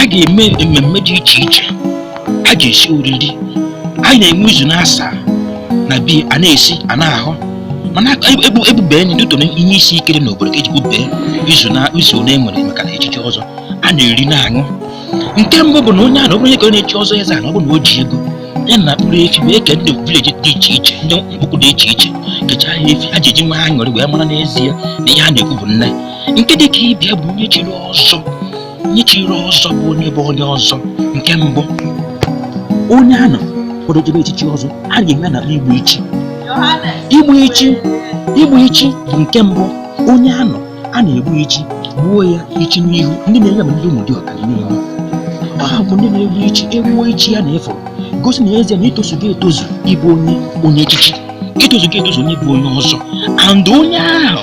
a ga-eme mmemme dị iche iche a ga-esi oriri a na-enwe izu n'asaa n'obi a na-esi a na-aṅụ mmanya ebu ebube enyi ndị tụrụ ihe isi ike n'obodo ka eji bubee izu na izu ole e nwere maka na echichi ọzọ a na-eri na-aṅụ nke mbụ bụ na onye a na ọ bụrụ onye ka ọ na-echi ọzọ eze a na ọ bụ na o ji ego ya na mkpụrụ efi wee kee ndị vileji dị iche iche ndị mkpụkụ dị iche iche kechaa ya efi a ji eji nwa ha ṅụrị wee mara n'ezie na ihe a na-ekwu bụ nne nke dị ka ịbịa bụ onye chiri ọzọ onye chiri ọzọ bụ onye bụ onye ọzọ nke mbụ onye a nọ kwado jebe echichi ọzọ a ga-eme na igbu ichi igbu ichi igbu ichi bụ nke mbụ onye a nọ a na-egbu ichi gbuo ya ichi n'ihu ndị na-eme ya bụ ndị Ụmụdiọka n'ihi na ha bụ ndị na-egbu ichi egbuo ichi ya na-egosi n'ezie na i tozugo etozu ịbụ onye onye echichi i tozugo etozu onye bụ onye ọzọ and onye ahụ